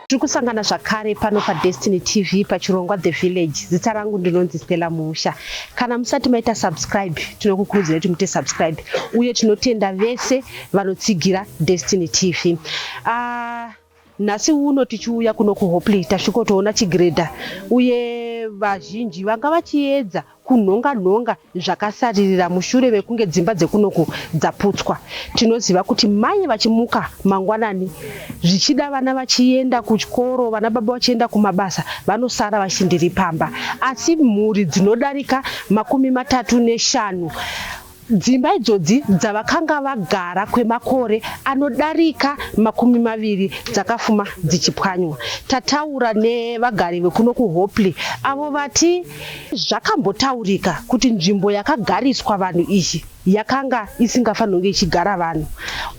tiri kusangana zvakare pano padestiny tv pachirongwa the village zita rangu ndinonzi stella musha kana musati maita subscribe tinokukurudzira kuti muite subscribe uye tinotenda vese vanotsigira destiny tv uh, ah, Nhasi uno tichiuya kuno kuHopley tasvikotoona chigiredha uye vazhinji vanga vachiedza kunhonga nhonga zvakasaririra mushure mekunge dzimba dzekunoku dzaputswa. Tinoziva kuti mai vachimuka mangwanani zvichida vana vachienda kuchikoro vana baba vachienda kumabasa vanosara vachiti ndiri pamba asi mhuri dzinodarika makumi matatu neshanu Dzimba idzodzi dzavakanga vagara kwemakore anodarika makumi maviri dzakafuma dzichipwanywa. Tataura nevagari vekuno kuHopley avo vati zvakambotaurika kuti nzvimbo yakagariswa vanhu iyi yakanga isingafanonge ichigara vanhu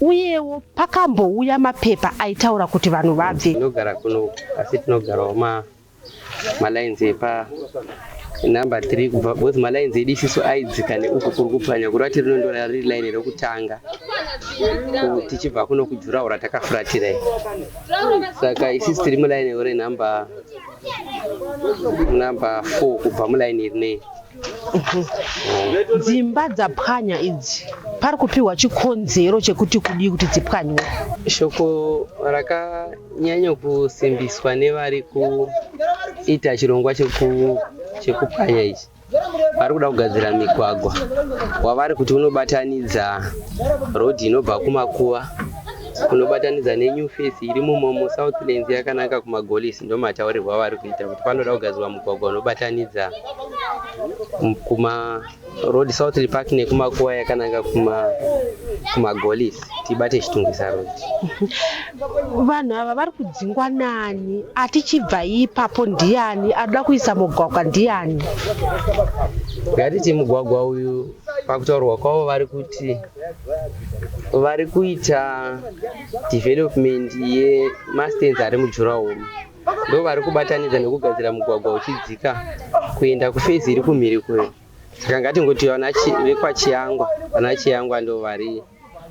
uyewo pakambouya mapepa aitaura kuti vanhu vabve. Tinogara kuno asi tinogarawo ma malines epa number 3 kubva both malines edi isiso aidzika neuku kuri kupwanya kureva kuti rinondora riri line rekutanga tichibva kuno kujuraho ratakafuratira i saka isisi tiri muline ore number number 4 kubva muline iri nei dzimba dzapwanya idzi pari kupiwa chikonzero chekuti kudii kuti dzipwanywe shoko raka Nyanyo kusimbiswa nevari kuita chirongwa chekupwanya ichi vari kuda kugadzira migwagwa wavari kuti unobatanidza rodhi inobva kumakuva kunobatanidza nenew face iri mumomo southlands yakananga kumagolisi ndo mataurirwo avari kuita kuti panoda kugadzirwa mugwagwa unobatanidza kuma road southly park nekumakuva yakananga kumagolisi tibate chitungisa road vanhu ava vari kudzingwa nani atichibva ipapo ndiyani anoda kuisa mugwagwa ndiyani ngatiti mugwagwa uyu pakutaurwa kwavo vari kuti vari kuita development yemastenzi ari mujurahoro ndovari kubatanidza nekugadzira mugwagwa uchidzika kuenda kufezi iri kumhiri kuyo saka ngatingoti vana vekwachiangwa vana chiangwa ndo vari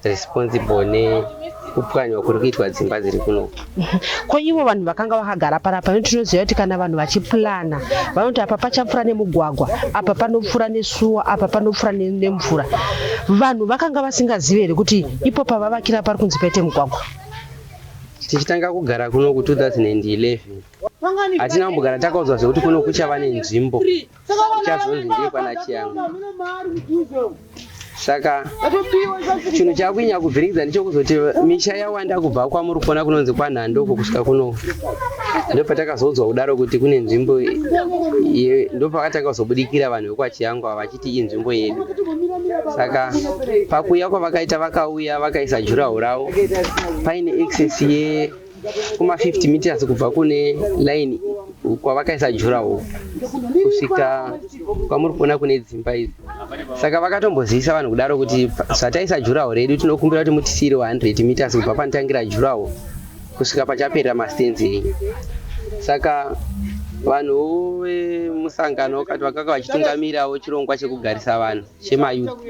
responsible nekupwanywa kuri kuitwa dzimba dziri kuno ko ivo vanhu vakanga vakagara panapa no tinoziva kuti kana vanhu vachipurana vanoti apa pachapfuura nemugwagwa apa panopfuura nesuwa apa panopfuura nemvura vanhu vakanga vasingazive here kuti ipo pavavakira pari kunzi paite mugwagwa tichitanga kugara kuno ku 2011 hatina kumbogara takaudzwa zvekuti kuno kuchava nenzvimbo chazonzi ndiye kwana chiyangu saka chinhu chakuinya kuvhiringidza ndichokuzoti misha yawanda kubva kwamuri kuona kunonzi kwanhandoko kusvika kuno ndopatakazoudzwa kudaro kuti kune nzvimbo ndopakatanga kuzobudikira vanhu vekwachiyangu avachi tii inzvimbo yedu saka pakuuya kwavakaita vakauya vakaisa juraho ravo paine excess ye kuma 50 meters kubva kune line kwavakaisa juraho kusvika kwamuri kuona kune dzimba idzi saka vakatombozivisa vanhu kudaro kuti zvataisa juraho redu tinokumbira kuti mutisiire 100 meters kubva panotangira juraho kusvika pachapera mastenzi enyu saka vanhu vemusangano wakati vakanga vachitungamirawo chirongwa chekugarisa vanhu chemayouth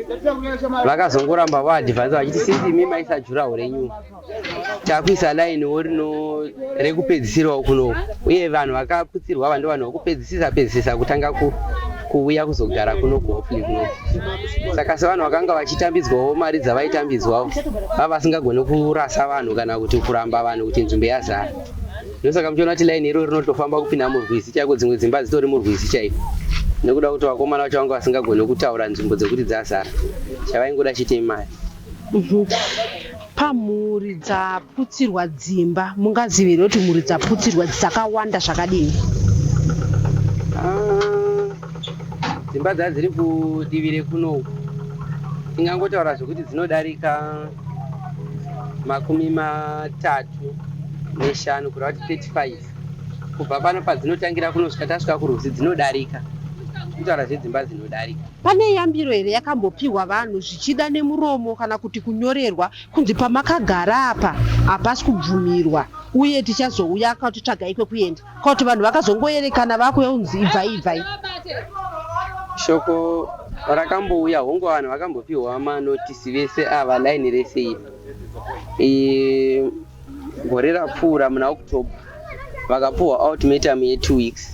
vakazongoramba vaadvansa vachiti since imi maisa juraho renyu takuisa lainiwo rino rekupedzisirawo kuno uye vanhu vakaputsirwa vandi vanhu vakupedzisisa pedzisisa kutanga ku kuuya kuzogara kuno kuhopely kuno saka sevanhu vakanga vachitambidzwawo mari dzavaitambidzwawo vava vasingagone kurasa vanhu kana kuti kuramba vanhu kuti nzvimbo yazara ndosaka muchiona kuti laini iro rinotofamba kupinda murwizi chaiko dzimwe dzimba dzitori murwizi chaiko nekuda kuti vakomana vacho vanga vasingagone kutaura nzvimbo dzekuti dzazara chavaingoda chitei mari mhm. Pamhuri dzaputsirwa dzimba mungazive here kuti mhuri dzaputsirwa dzakawanda zvakadini? Dzimba dzadziri kudivi rekuno uku tingangotaura zvekuti dzinodarika makumi matatu neshanu kureva kuti 35 kubva pano padzinotangira kunosvika tasvika kurwizi dzinodarika tinotaura zvedzimba dzinodarika Pane yambiro here yakambopihwa vanhu zvichida nemuromo kana kuti kunyorerwa kunzi pamakagara apa hapasi kubvumirwa uye tichazouya akati tsvagai kwekuenda kana kuti vanhu vakazongoerekana vakuuya kunzi ibvai ibvai shoko rakambouya hongu vanhu vakambopiwa manotisi vese ava laini rese iri Gore rapfuura muna October vakapuhwa ultimatum ye two weeks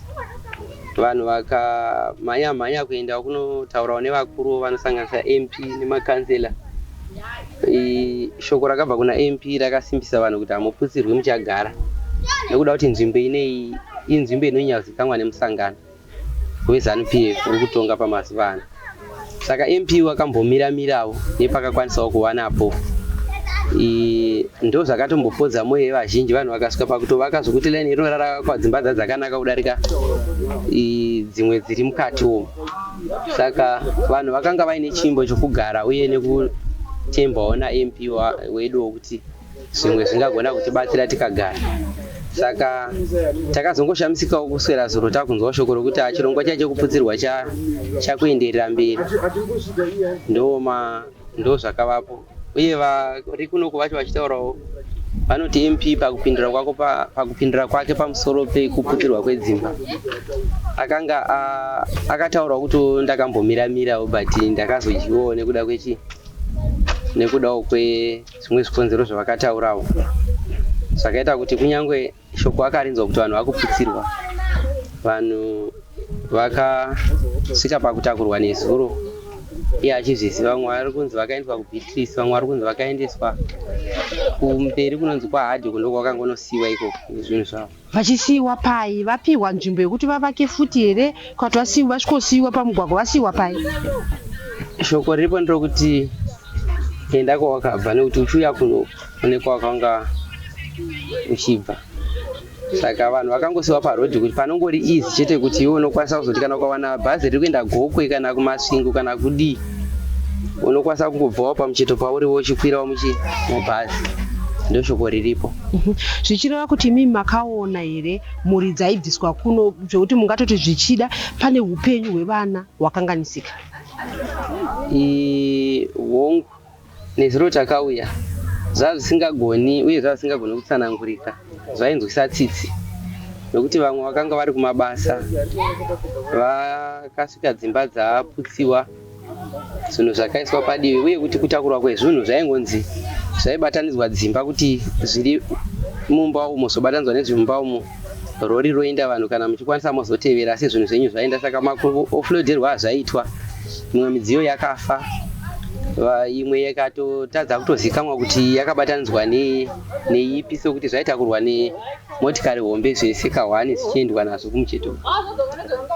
vanhu vakamhanya mhanya kuenda kunotaurawo nevakuru vanosanganisa MP nemakanzela. Shoko rakabva kuna MP rakasimbisa vanhu kuti hamuputsirwi muchagara nekuda kuti nzvimbo inei inzvimbo inonyazikanwa nemusangano. weZanu PF uri kutonga pamazuva ano saka MP wakambomira mirawo nepakakwanisawo kuwanapo ndo zvakatombopodza mwoyo yevazhinji vanhu vakasvika pakutovaka zvokuti laini iro rarakwa dzimba dza dzakanaka kudarika dzimwe dziri mukati umu saka vanhu vakanga vaine chimbo chokugara uye nekutembawo namp wedu wokuti zvimwe zvingagona kutibatsira tikagara saka takazongoshamisikawo kuswera zuro takunzwa shoko rokuti ah, chirongwa chaicho kuputsirwa chakuenderera mberi ndoma ndo zvakavapo uye vari kunoku vacho vachitaurawo vanoti mp pakupindura kwako pakupindura kwake pamusoro pekuputirwa kwedzimba akanga akataurwa kuti ndakambomira mirawo but ndakazodyiwawo nekuda kwechi nekudawo kwe zvimwe zvikonzero zvavakataurawo zvakaita kuti kunyange shoko akarinzwa kuti vanhu vakuputsirwa vanhu vakasvika pakutakurwa nezuro iye achizviziva vamwe vari kunzi vakaendeswa kubeatrice vamwe vari kunzi vakaendeswa kumberi kunonzi kwahadhi kundo kwakangonosiiwa ikoko nezvinhu zvavo Vachisiiwa pai? Vapihwa nzvimbo yekuti vavake futi here kana kuti vasiiwa vasvikosiiwa pamugwagwa vasiiwa pai? Shoko riripo nderokuti enda kwawakabva nekuti uchiuya kuno une kwawakanga uchibva. Saka vanhu vakangosiiwa parodhi kuti panongori easy chete kuti iwe unokwanisa kuzoti kana ukawana bhazi riri kuenda Gokwe kana kuMasvingo kana kudii unokwanisa kungobvawo pamucheto pauriwo uchikwirawo muchi mubhazi. Ndoshoko riripo. Mhm. zvichireva kuti imimi makaona here mhuri dzaibviswa kuno zvekuti mungatoti zvichida pane upenyu hwevana hwakanganisika hongu nezuro takauya zvava zvisingagoni uye zvava zvisingagoni kutsanangurika zvainzwisa tsitsi nokuti vamwe vakanga vari kumabasa vakasvika dzimba dzaputsiwa zvinhu zvakaiswa padivi uye kuti kutakurwa kwezvinhu zvaingonzi zvaibatanidzwa dzimba kuti zviri mumba umo zvobatanidzwa nezvemumba umo rori roinda vanhu kana muchikwanisa mozotevera asi zvinhu zvenyu zvainda saka maofloderwa azvaitwa mimwe midziyo yakafa imwe yakatotadza kutozikamwa kuti yakabatanidzwa neipi sokuti zvaitakurwa motikari hombe zvese kahwani zvichiendwa nazvo kumucheto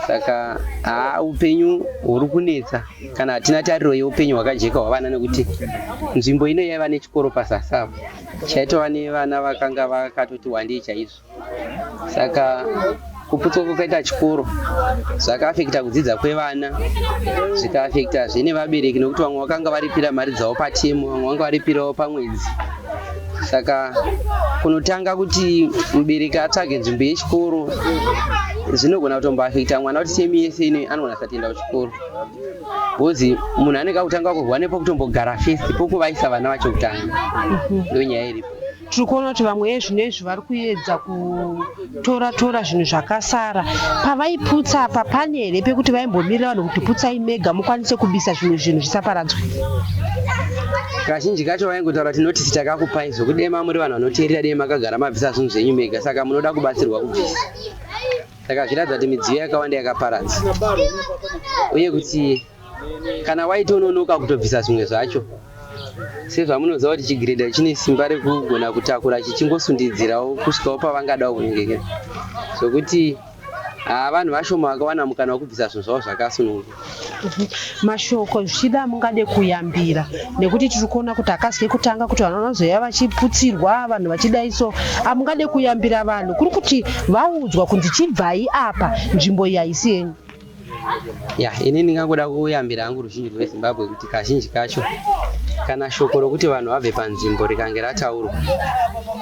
saka haa upenyu huri kunetsa kana hatina tariro yeupenyu hwakajeka hwavana nekuti nzvimbo ino yaiva nechikoro pazasi apo chaitova nevana vakanga vakatoti wandei chaizvo saka Kuputswa kwakaita chikoro zvakaafekita kudzidza kwevana, zvikaafekita zve nevabereki nekuti vamwe vakanga varipira mari dzavo patemu, vamwe vanga varipirawo pamwedzi. Saka kunotanga kuti mubereki atsvage nzvimbo yechikoro zvinogona kutomboafekita mwana kuti temu yese ino anogona kusatoenda kuchikoro bhozi munhu anenge akutanga kurwa nepokutombogara fesi pokuvaisa vana vacho kutanga mhm. ndonyaya iripo tiri kuona kuti vamwe vezvinezvi vari kuedza kutora tora zvinhu zvakasara pavaiputsa apa pane here pekuti vaimbomirira vanhu kuti putsai mega mukwanise kubisa zvimwe zvinhu zvisaparadzwe kazhinji kacho vaingotaura kuti notisi takakupai zvokudema muri vanhu vanoteerera dei makagara mabvisa zvinhu zvenyu mega saka munoda kubatsirwa kubvisa saka zviratidza kuti midziyo yakawanda yakaparadza uye kuti Kana waitononoka kutobvisa zvimwe zvacho, sezvamunoziva kuti chigiredha chine simba rekugona kutakura chichingosundidzirawo kusvikawo pavangada kunyengekera zvokuti haa vanhu vashoma vakawana mukana wekubvisa zvinhu zvavo zvakasununguka mhm. mashoko zvichida mungade kuyambira nekuti tiri kuona kuti akazike kutanga kuti vanhu vanozoya vachiputsirwa vanhu vachidaiso amungade kuyambira vanhu kuri kuti vaudzwa kunzi chibvai apa nzvimbo iyi haisi yenyu ya ini ndingangoda kuyambira hangu ruzhinji rwezimbabwe kuti kazhinji kacho kana shoko rokuti vanhu vabve panzvimbo rikange rataurwa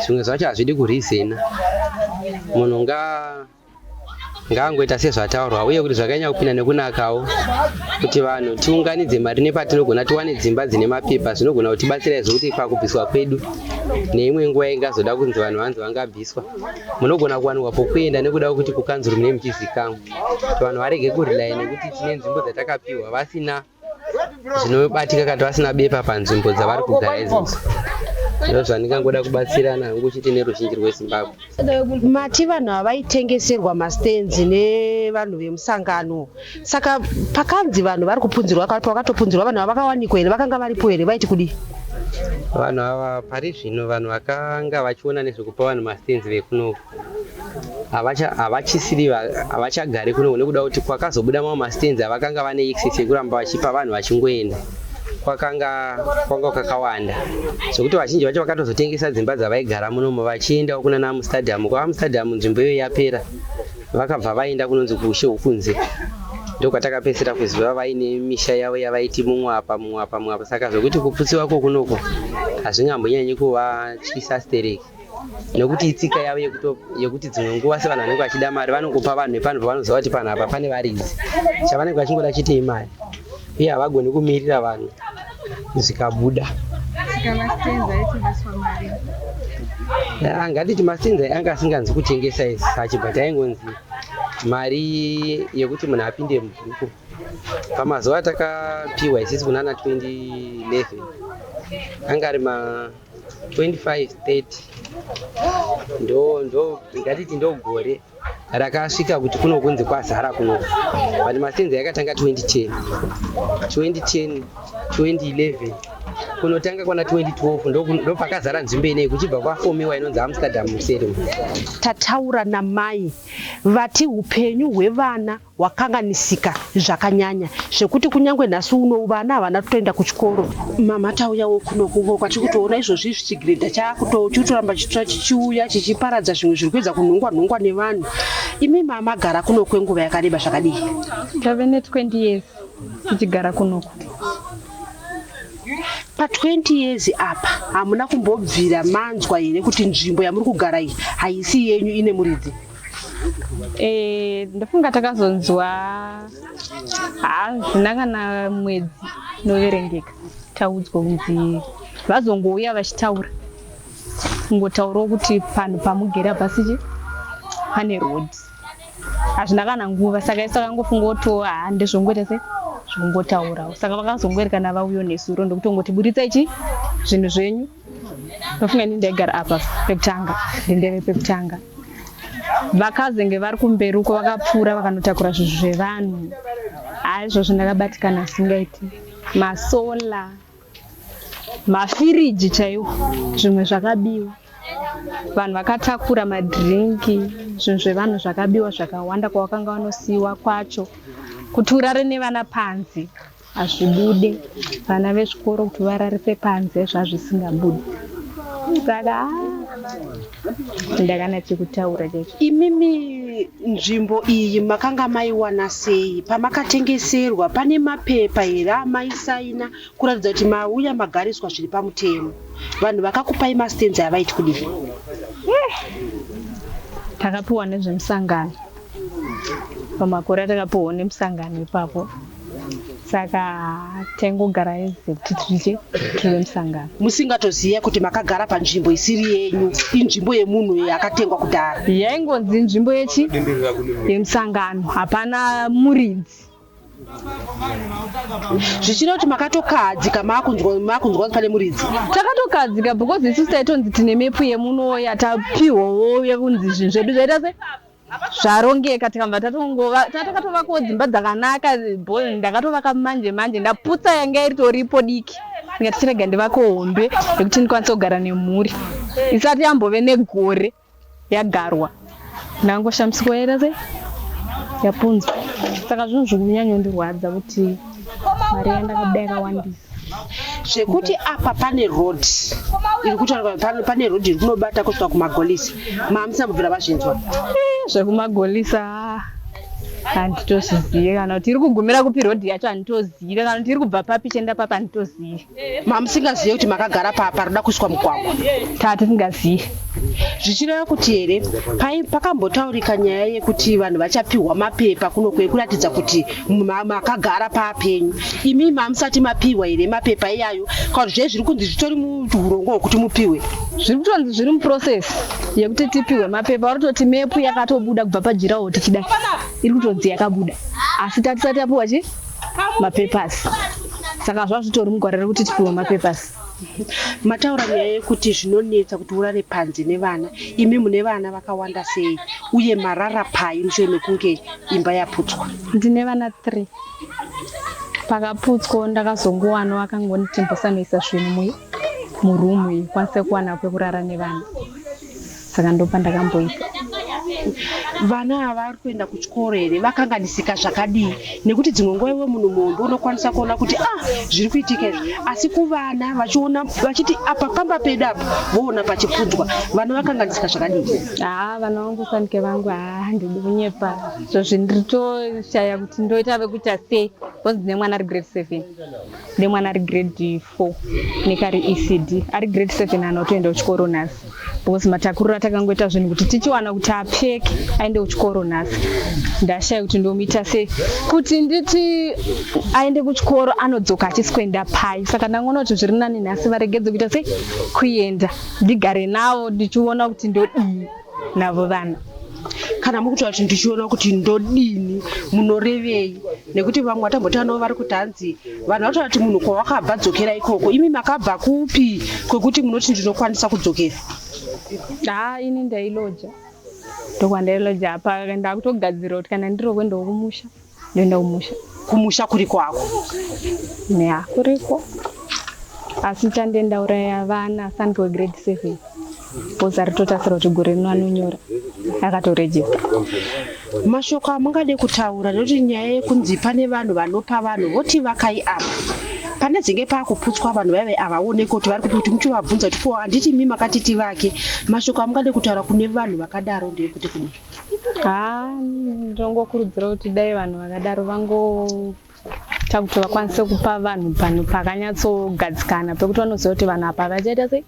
zvimwe zvacho hazvidi kurizena munhu nga ngaangoita sezvataurwa uye kuti zvakanyanya kupinda nekunakawo kuti vanhu tiunganidze mari nepatinogona tiwane dzimba dzine mapepa zvinogona kutibatsira izvo kuti pakubviswa kwedu neimwe nguva ingazoda kunzi vanhu vanzi vangabviswa munogona kuwanikwa pokuenda nekuda kwekuti kukanzuru mune muchizikamwa kuti vanhu varege kurely nekuti tine nzvimbo dzatakapiwa vasina zvinobatika kana vasina bepa panzvimbo dzavari kugara izvozvo ndo zvandingangoda kubatsirana hangu chete neruzhinji rwezimbabwe mati vanhu havaitengeserwa mastenzi nevanhu vemusangano saka pakanzi vanhu vari kupunzirwa kati wakatopunzirwa vanhu ava vakawanikwa here vakanga varipo here vaiti kudii vanhu ava pari zvino vanhu vakanga vachiona nezvekupa vanhu mastenzi vekunoku havachisiri havachagari kuno nekuda kuti kwakazobuda mamwe mastands avakanga vane excess yekuramba vachipa vanhu vachingoenda kwakanga kwanga kakawanda zvekuti vazhinji vacho vakatozotengesa dzimba dzavaigara munomo vachiendawo kuna naamustadium kwaamustadium nzvimbo iyo yapera vakabva vaenda kunonzi kuushe hwokunze ndokwatakapedzisira kuziva vaine misha yavo yavaiti mumwe apa mumwe apa mumwe apa saka zvekuti kuputsiwa kwokunoko hazvingambonyanyi kuvatyisa stereki nekuti itsika yavo yekuti dzimwe nguva sevanhu vanenge vachida mari vanongopa vanhu vepano pavanoziva kuti panhu apa pane varidzi chavanenge vachingoda chitei mari uye havagoni kumirira vanhu zvikabuda angatiti ah, mastenza anga asinganzi kutengesa sachi but aingonzi mari yekuti munhu apinde mubhuku pamazuva atakapiwa isisi kunana 2011 anga ari ma 2530 ndo ndo ngatiti ndo gore rakasvika kuti kuno kunzi kwazara kuno but masenza yakatanga 2010 2010 2011 kunotanga kwana 2012 ndopakazara nzvimbo inei kuchibva kwafomiwa inonzi amsterdam muserum tataura namai vati upenyu hwevana wakanganisika zvakanyanya zvekuti kunyange nhasi uno vana havana kutoenda kuchikoro mama tauyawo kuno kuko kwatiri kutoona izvozvi chigiredha chaakuto chikutoramba chitora chichiuya chichiparadza zvimwe zviri kuedza kunhongwa nhongwa nevanhu imi mama gara kuno kwenguva yakareba zvakadii tave ne20 years tichigara kunoku pa20 years apa hamuna kumbobvira manzwa here kuti nzvimbo yamuri kugara iyi haisi yenyu ine muridzi Eh, ndofunga takazonzwa hazvina kana mwedzi inoverengeka taudzwa kunzi vazongouya vachitaura kungotaurawo kuti panhu pamugere apasichi pane road hazvina kana nguva saka isu takangofunga kuti oh, haa ndezvongoita sei zvingotaurawo saka vakazongoerekana vauyo nesuro ndokutongoti buritsa ichi zvinhu zvenyu ndofunga ini ndaigara apa pekutanga ndindeve pekutanga vakazenge vari kumberi uko vakapfuura vakanotakura zvinhu zvevanhu haizvozvo ndakabatikana singaiti masola mafiriji chaiwo zvimwe zvakabiwa vanhu vakatakura madhirinki zvinhu zvevanhu zvakabiwa zvakawanda kwavakanga vanosiyiwa kwacho kuti urare nevana panzi hazvibude vana vezvikoro kuti vararise panze zvazvisingabude saka ah, ndakana chekutaura chaicho imimi nzvimbo iyi makanga maiwana sei pamakatengeserwa pane mapepa here amaisaina kuratidza kuti mauya magariswa zviri pamutemo vanhu vakakupai mastenzi avaiti kudii eh, takapiwa nezvemusangano pamakore atakapiwa nemusangano ipapo saka tengogara hezvo kuti tidye tore musangano musingatoziva kuti makagara panzvimbo isiri yenyu inzvimbo yemunhu uye akatengwa kudhara yaingonzi inzvimbo yechi yemusangano hapana muridzi zvichida kuti makatokahadzika makunzwa pane muridzi takatokahadzika because isu taitonzi tine mepu yemuno yatapihowo yekunzi zvinhu zvedu zvaita se zvarongeka tikabva tatongova tatakatovakawo dzimba dzakanaka ndakatovaka manje manje ndaputsa yanga iritoripo diki ndikati chirega ndivako hombe yekuti ndikwanise kugara nemhuri isati yambove negore yagarwa ndangoshamisiko yaita sei yapunzwa saka zvinhu zviri kunyanyondirwadza kuti mari yandakabaya kawandisa zvekuti apa pane road iri kutaura pane road iri kunobata kusvika kumagolisa maamisa kubvira vazvinzwa eh, zvekumagolisa handitozizive kana kuti iri kugumira kupi rodhi yacho handitozive kana kuti iri kubva papi chienda papi handitozive mamusingazive kuti makagara papa roda kuiswa mugwagwa taa tisingazive zvichireva kuti here pakambotaurika nyaya yekuti vanhu vachapiwa mapepa kuno kwekuratidza kuti makagara papenyu imi mamusati mapiwa here mapepa iyayo kauri zve zviri kunzi zvitori muurongwa hwekuti mupiwe zviri kutonzi zviri muprocess yekuti tipiwe mapepa vari kutoti mepu yakatobuda kubva pajirawo tichidai iri kutonzi yakabuda asi tatisati tapiwa chi mapepers saka zvazvitori mugwara rekuti tipiwe mapepers Mataura nyaya yekuti zvinonetsa kuti urare panze nevana, imi mune vana vakawanda sei uye marara pai mushure mekunge imba yaputswa? Ndine vana 3 pakaputswa ndakazongowana wakangonditi mbosamisa zvinhu murumu iyi kwanise kuwana kwekurara nevana saka ndopandakamboita vana ava vari kuenda kuchikoro here vakanganisika zvakadii nekuti dzimwe nguva iwe munhu muhombe unokwanisa kuona kuti ah zviri kuitika izvi asi kuvana vachiona vachiti apa pamba pedu apa voona pachipfudzwa vana vakanganisika zvakadii haa vana vangu sanike vangu haa handidi kunyepa so zvinditoshaya kuti ndoita vekuita sei bcause ndine mwana ari grade seven ndine mwana ari grade Ko nekari ECD ari grade 7 ana otoenda kuchikoro nhasi because matakuriro atakangoita zvinhu kuti tichiwana kuti apfeke aende kuchikoro nhasi ndashaya kuti ndomuita sei kuti nditi aende kuchikoro anodzoka achisi kuenda pai saka ndangoona kuti zviri nani nhasi varegedze kuita sei kuenda ndigare navo ndichiona kuti ndodii navo vana kana mukutaura kuti ndichiona kuti ndodini munorevei nekuti vamwe vatambotaura navo vari kuti hanzi vanhu vatoona kuti munhu kwawakabva dzokera ikoko imi makabva kupi kwekuti munoti ndinokwanisa kudzokera haa ini ndailoja ndokwandailoja apa ndakutogadzira kuti kana ndirokwe ndokumusha ndoenda kumusha kumusha kuriko hako neya kuriko asi chandienda uraya vana sani wegrade seven bhozi aritotasira kuti gore rino anonyora akatorejista mashoko amungade kutaura nekuti nyaya yekunzi pane vanhu vanopa vanhu voti vakai apa pane dzinge paakuputswa vanhu vaive havaoneke kuti vari kupi kuti muchovabvunza kuti ko handiti mi makatiti vake mashoko amungade kutaura kune vanhu vakadaro ndeyekuti kudii haa ndongokurudzira kuti dai vanhu vakadaro vangoita kuti vakwanise kupa vanhu panhu pakanyatsogadzikana pekuti vanoziva kuti vanhu apa havachaita sei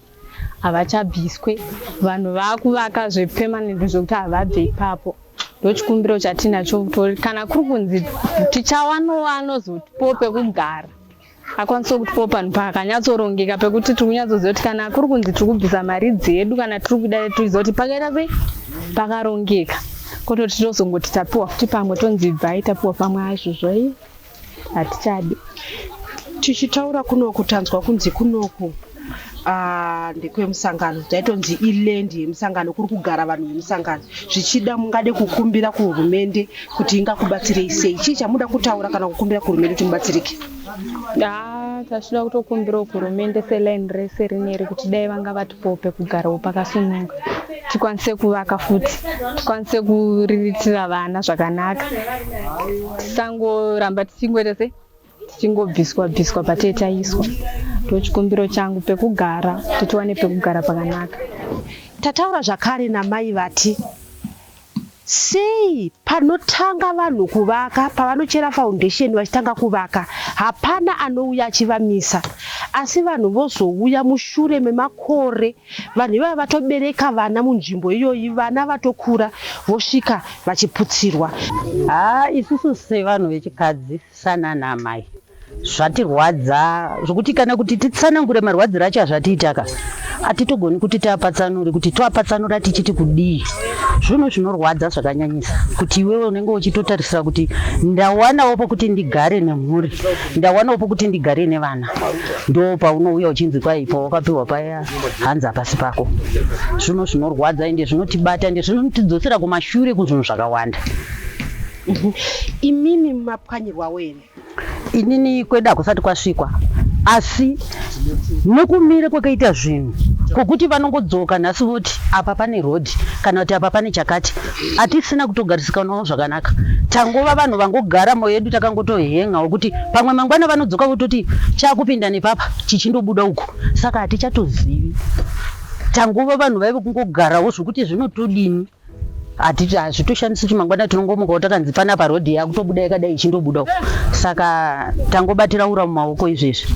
havachabviswe vanhu vakuvaka zvepemanent zvekuti havabve ipapo ndochikumbiro chatinacho kana kuri kunzi tichawanova anozotipo pekugara akwanise kutipawo panhu pakanyatsorongeka pekuti tiri kunyatsoziva kuti kana kuri kunzi tiri kubvisa mari dzedu kana tiri kuda tiriziva kuti pakaita sei pakarongeka kototi tozongoti tapiwa futi pamwe tonzi bvai tapiwa pamwe azvozvo i hatichadi tichitaura kunoku tanzwa kunzi kunoku Ah, ndekwemusangano taitonzi iland yemusangano kuri kugara vanhu vemusangano zvichida mungade kukumbira kuhurumende kuti ingakubatsirei sei chii chamuda kutaura kana kukumbira kuhurumende kuti mubatsirike Ah, tachida kutokumbirawo kuhurumende seline rese rineri kuti dai vanga vatipowo pekugarawo pakasununga tikwanise kuvaka futi tikwanise kuriritira vana zvakanaka tisangoramba tichingoita se tichingobviswa bviswa patee taiswa ndochikumbiro changu pekugara kuti tiwane pekugara pakanaka tataura zvakare namai vati sei panotanga vanhu kuvaka pavanochera foundation vachitanga kuvaka hapana anouya achivamisa asi vanhu vozouya mushure memakore vanhu ivava vatobereka vana munzvimbo iyoyi vana vatokura vosvika vachiputsirwa haa isusu sevanhu vechikadzi Sanana amai zvatirwadza zvokuti kana kuti titsanangure marwadziro acho azvatiitaka hatitogoni kuti tiapatsanure kuti toapatsanura tichiti kudii zvino zvinorwadza zvakanyanyisa kuti iwewe unenge uchitotarisira kuti ndawanawo pokuti ndigare nemhuri ndawanawo pokuti ndigare nevana ndo paunouya uchinzi kwai pawakapiwa paya hanzi hapasi pako zvino zvinorwadza ende zvinotibata ende zvinotidzosera kumashure kuzvinhu zvakawanda Mhm. Imimi mapwanyirwawo here? Inini kwedu hakusati kwasvikwa asi nokumira kwakaita zvinhu kwokuti vanongodzoka nhasi voti apa pane rodhi kana kuti apa pane chakati hatisina kutogarisikawo zvakanaka tangova vanhu vangogara moyo yedu takangotohen'a wekuti pamwe mangwana vanodzoka vototi chakupinda nepapa chichindobuda uku saka hatichatozivi tangova vanhu vaive kungogarawo zvokuti zvinotodini hatiti hazvitoshandisi kuti mangwana tinongomukawo takanzi fana parodhi yakutobuda yakadai ichindobudawo saka tangobatira ura mumaoko izvezvi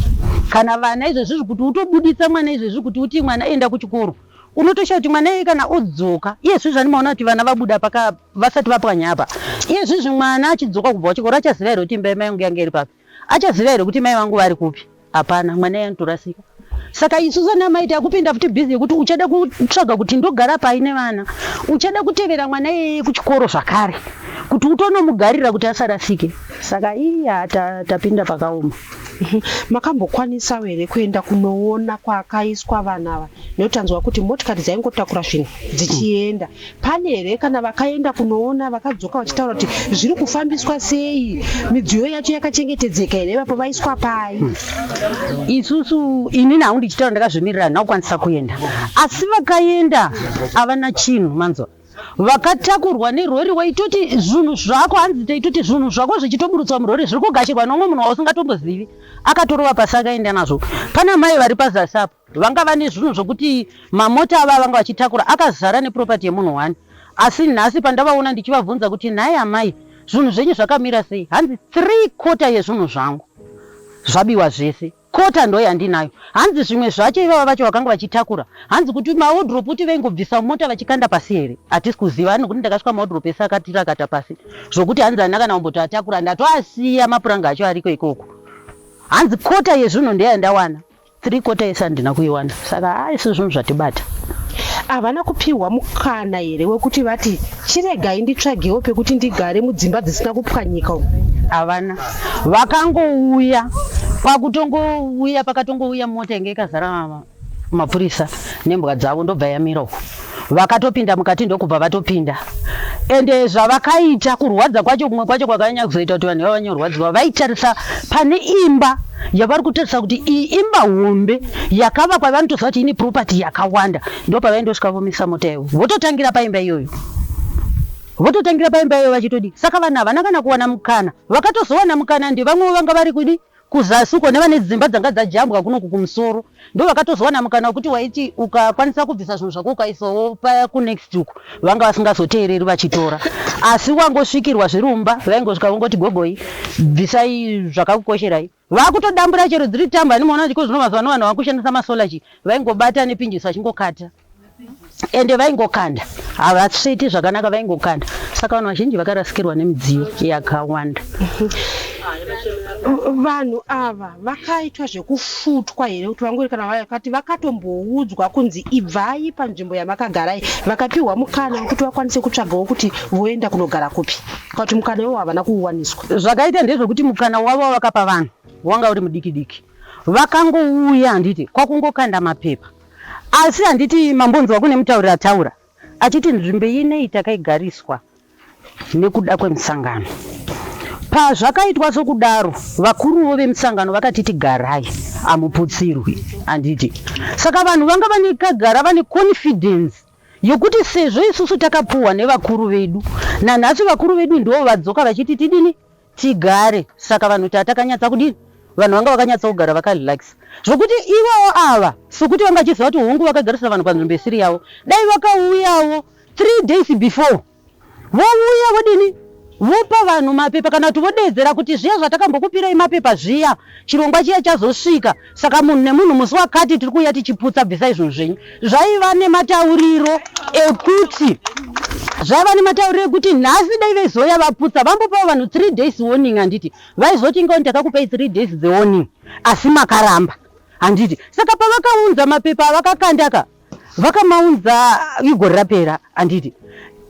kana vana izvezvi zvi kuti utobuditsa mwana izvezvi kuti uti mwana enda kuchikoro unotosha kuti mwana iye kana odzoka iye zvi zvandimaona kuti vana vabuda paka vasati vapwanya apa iye zvi zvi mwana achidzoka kubva kuchikoro achaziva here kuti imba imai yangu yanga iri papi Achaziva here kuti mai vangu vari kupi? Hapana, mwana iye anotorasika. Saka isu sana mai takupinda futi busy yekuti uchada kutsvaga kuti ndogara pai nevana. Uchada kutevera mwana iyeye kuchikoro zvakare kuti utonomugarira kuti asarasike. Saka iya tapinda pakaoma. Mhm. Makambokwanisawo here kuenda kunoona kwakaiswa vanhu ava nekuti tanzwa kuti motikari dzaingotakura zvinhu dzichienda Pane here kana vakaenda kunoona vakadzoka vachitaura kuti zviri kufambiswa sei, midziyo yacho yakachengetedzeka here ipapo vaiswa pai? Hmm. Isusu inini hangu ndichitaura ndakazvimirira handina kukwanisa kuenda, asi vakaenda havana chinhu manzwa vakatakurwa nerori waitoti zvinhu zvako hanzi taitoti zvinhu zvako zvichitoburutswa murori zviri kugashirwa nomwe munhu wausingatombozvivi akatorova pasi akaenda nazvo pana mai vari pazasi apo Vanga vane zvinhu zvokuti mamota ava avanga vachitakura akazara neproperty yemunhu one asi nhasi pandavaona ndichivabvunza kuti nhai amai zvinhu zvenyu zvakamira sei hanzi three quarter yezvinhu zvangu zvabiwa zvese quarter ndo yandinayo hanzi zvimwe zvacho ivava vacho vakanga vachitakura hanzi kuti mawodrop kuti vaingobvisa mumota vachikanda pasi here hatisi kuziva ani kuti ndakasvika mawodrop ese akatirakata pasi zvokuti hanzi handina kana kumbotoatakura ndatoasiya mapuranga acho ariko ikoko hanzi quarter yezvinhu ndeyandawana three quarter yese handina kuiwana saka haa isu zvinhu zvatibata havana kupiwa mukana here wekuti vati chiregai nditsvagewo pekuti ndigare mudzimba dzisina kupwanyika umu havana vakangouya kwakutongouya pakatongouya mota yange ikazara mapurisa nembwa dzavo ndobva yamira uku vakatopinda mukati ndokubva vatopinda ende zvavakaita kurwadza kwacho kumwe kwacho kwakanyanya kuzoita kuti vanhu vavanye kurwadziwa vaitarisa pane imba yavari kutarisa kuti iyi imba hombe yakavakwa vanotoziva kuti ine property yakawanda ndo pavaindosvika vomisa mota ivo vototangira paimba iyoyo vototangira paimba iyoyo vachitodii saka vanhu havana kana kuwana mukana vakatozowana mukana ndevamwevo vanga vari kudii Kuzasi uko nevane dzimba dzanga dzajambwa kunoku kumusoro ndovakatozowana mukana wekuti waiti ukakwanisa kubvisa zvinhu zvako ukaisawo paya kunext uko vanga vasingazoteereri vachitora asi wangosvikirwa zviri mumba vaingosvika vongoti gogoi bvisai zvakakukosherai vakutodambura chero dziri tambo handimaona kuti ko zvino mazuva ano vanhu vakushandisa masolar chii vaingobata nepinjisi vachingokata ende vaingokanda havatsviti zvakanaka vaingokanda saka vanhu vazhinji vakarasikirwa nemidziyo yakawanda vanhu ava vakaitwa zvekufutwa here kuti vangori kana vakati vakatomboudzwa kunzi ibvai panzvimbo yamakagarai vakapiwa mukana wekuti vakwanise kutsvagawo kuti voenda kunogara kupi kuti mukana iwo havana kuuwaniswa zvakaita ndezvekuti mukana wavo wavakapa vanhu wanga uri mudiki diki vakangouya handiti kwakungokanda mapepa Asi handiti mambonzwa kune mutauri ataura achiti nzvimbo inei takaigariswa nekuda kwemusangano. Pazvakaitwa sokudaro, vakuruwo vemusangano vakatiti garai hamuputsirwi, handiti? Saka vanhu vanga vanekagara vane confidence yokuti sezvo isusu takapuhwa nevakuru vedu, nanhasi vakuru vedu ndivo vadzoka vachiti tidini, tigare saka vanhu tatakanyatsa kudini vanhu vanga vakanyatsa kugara vakarelax zvokuti ivowo ava sokuti vanga vachiziva kuti hongu vakagarisa vanhu panzvimbo isiri yavo dai vakauyawo three days before vouya vodini vopa vanhu mapepa kana kuti vodeedzera kuti zviya zvatakambokupirai mapepa zviya chirongwa chiya chazosvika Saka munhu nemunhu musi wakati tiri kuuya tichiputsa bvisai zvinhu zvenyu. Zvaiva nematauriro ekuti zvaiva nematauriro ekuti nhasi dai vaizoya vaputsa vambopawo vanhu three days warning handiti vaizoti ingawo ndakakupai three days the warning asi makaramba handiti saka pavakaunza mapepa avakakandaka vakamaunza igore rapera handiti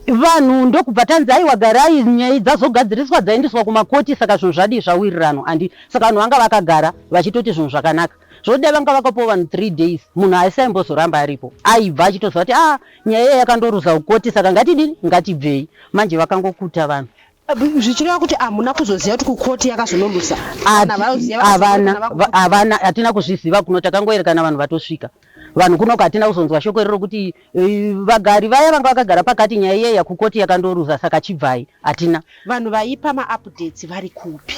vanhu ndokubva tanzi aiwa garai nyaya dzazogadziriswa dzaendeswa kumakoti saka zvinhu zvadii zvawirirano handi saka vanhu vanga vakagara vachitoti zvinhu zvakanaka zvodai vanga vakapawo vanhu three days munhu haisi aimbozoramba aripo aibva achitoziva kuti a ah, nyaya iya yakandoruza kukoti saka ngatidini ngatibvei manje vakangokuta vanhu zvichireva kuti hamuna kuzoziva kuti kukoti yakazonoruza havana hatina kuzviziva kuno takangoerekana vanhu vatosvika Vanhu kuno uko hatina kuzonzwa shoko iroro kuti eh, vagari vaya vanga vakagara pakati nyaya iya yakukoti yakandoruza saka chibvai hatina. Vanhu vaipa maupdates vari kupi?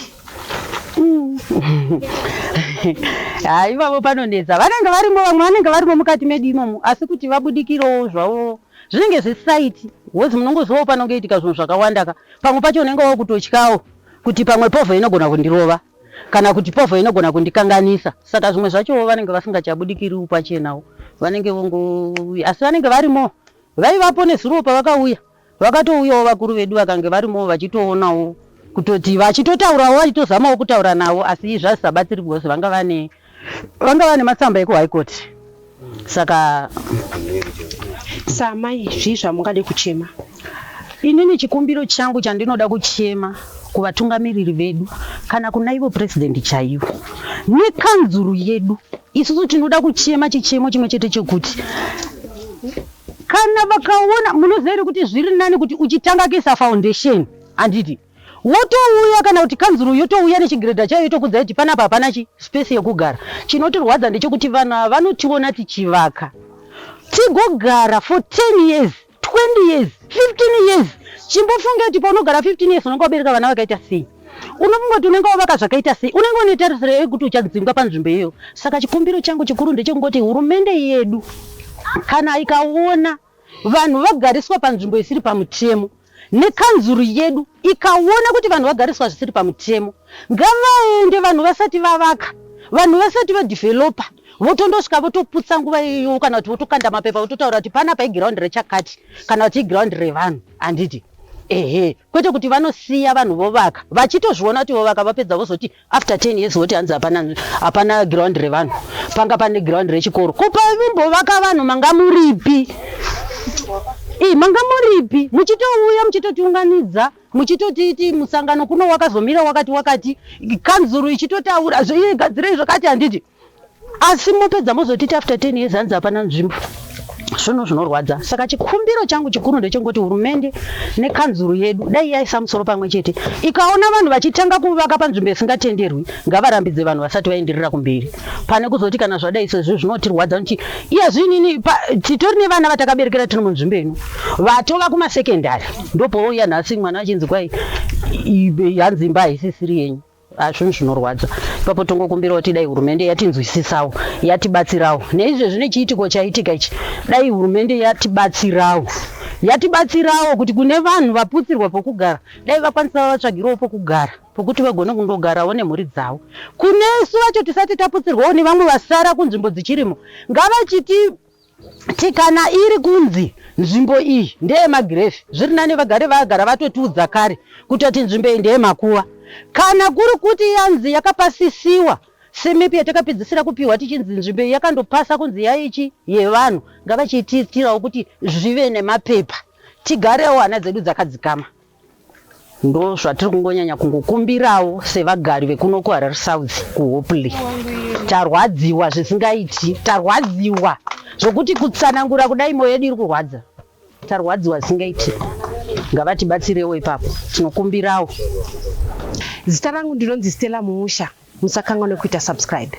Haa ivavo panonetsa vanenge varimo vamwe vanenge varimo mukati medu imomo asi kuti vabudikirewo zvavo zvinenge zvesaiti wozi munongozivawo panongoitika zvinhu zvakawandaka pamwe pacho unenge wakutotyawo kuti pamwe povha inogona kundirova kana kuti povho inogona kundikanganisa saka zvimwe zvachowo vanenge vasingachabudikiriwo pachenawo vanenge vongouya asi vanenge varimo vaivapo nezuro pavakauya vakatouyawo vakuru vedu vakange varimo vachitoonawo kutoti vachitotaurawo vachitozamawo kutaura navo asi zvazisabatsiribwose vanga vane vanga vane matsamba ekuhigh court saka samai zvii zvamungade kuchema inini chikumbiro changu chandinoda kuchema kuvatungamiriri vedu kana kuna ivo purezidendi chaivo nekanzuru yedu isusu tinoda kuchema chichemo chimwe chete chekuti kana vakaona munoziva here kuti zviri nani kuti uchitanga kisa foundation handiti Votouya kana kuti kanzuru yotouya nechigiredha chayo yotokudza kuti panapa hapana chi space yekugara. Chinotirwadza ndechekuti vanhu ava vanotiona tichivaka tigogara for 10 years, 20 years, 15 years. Chimbofunge kuti paunogara 15 years unenge wabereka vana vakaita sei. Unofunga kuti unenge wavaka zvakaita sei. Unenge une tarisiro here yekuti uchadzingwa panzvimbo iyoyo. Saka chikumbiro changu chikuru ndechekungoti hurumende yedu kana ikaona. Vanhu vagariswa panzvimbo isiri pamutemo nekanzuru yedu ikaona kuti vanhu vagariswa zvisiri pamutemo ngavaende vanhu vasati vavaka vanhu vasati vadeveloper votondosvika votoputsa nguva iyoyo kana kuti votokanda mapepa vototaura kuti panapa iground rechakati kana kuti iground revanhu handiti ehe kwete kuti vanosiya vanhu vovaka vachitozviona kuti vovaka vapedza vozoti after 10 years voti hanzi hapana hapana ground revanhu panga pane ground rechikoro kupa vimbovaka vanhu manga muripi ii manga muripi muchitouya muchitotiunganidza muchitotiiti musangano kuno wakazomira wakati wakati kanzuru ichitotaura zvoigadzirei zvakati handiti asi mopedza mozotiti after 10 years hanzi hapana nzvimbo zvinhu zvinorwadza saka chikumbiro changu chikuru ndechengoti hurumende nekanzuru yedu dai yaisa musoro pamwe chete ikaona vanhu vachitanga kuvaka panzvimbo isingatenderwi ngavarambidze vanhu vasati vaenderera kumberi pane kuzoti kana zvadai sezvi zvinotirwadza noti iya zvinini titori nevana vatakaberekera tiri munzvimbo ino vatova kumasekendari ndopouya nhasi mwana achinzi kwai hanzi imba haisisiri yenyu Ah, zvinhu zvinorwadza ipapo tongokumbirawo kuti dai hurumende yatinzwisisawo yatibatsirawo neizvezvi nechiitiko chaitika ichi dai hurumende yatibatsirawo yatibatsirawo kuti kune vanhu vaputsirwa pokugara dai vakwanisawo vatsvagirawo pokugara pokuti vagone kundogarawo nemhuri dzavo kunesu vacho tisati taputsirwawo nevamwe vasara kunzvimbo dzichirimo ngavachiti Kuti kana iri kunzi nzvimbo iyi ndeye magirefi zviri nani vagari vagara vatotiudza kare kuti ati nzvimbo iyi ndeye makuva kana kuri kuti yanzi yakapasisiwa semipi yatakapedzisira kupiwa tichinzi nzvimbo iyi yakandopasa kunzi yaichi yevanhu ngavachitiitirawo kuti zvive nemapepa tigarewo hana dzedu dzakadzikama ndo zvatiri kungonyanya kungokumbirawo sevagari vekuno kuharare south kuhopley tarwadziwa zvisingaiti tarwadziwa zvokuti kutsanangura kudai moyo yedu iri kurwadza tarwadziwa zvisingaiti ngavatibatsirewo ipapo tinokumbirawo zita rangu ndinonzi stella mumusha musakanganwe kuita subscribe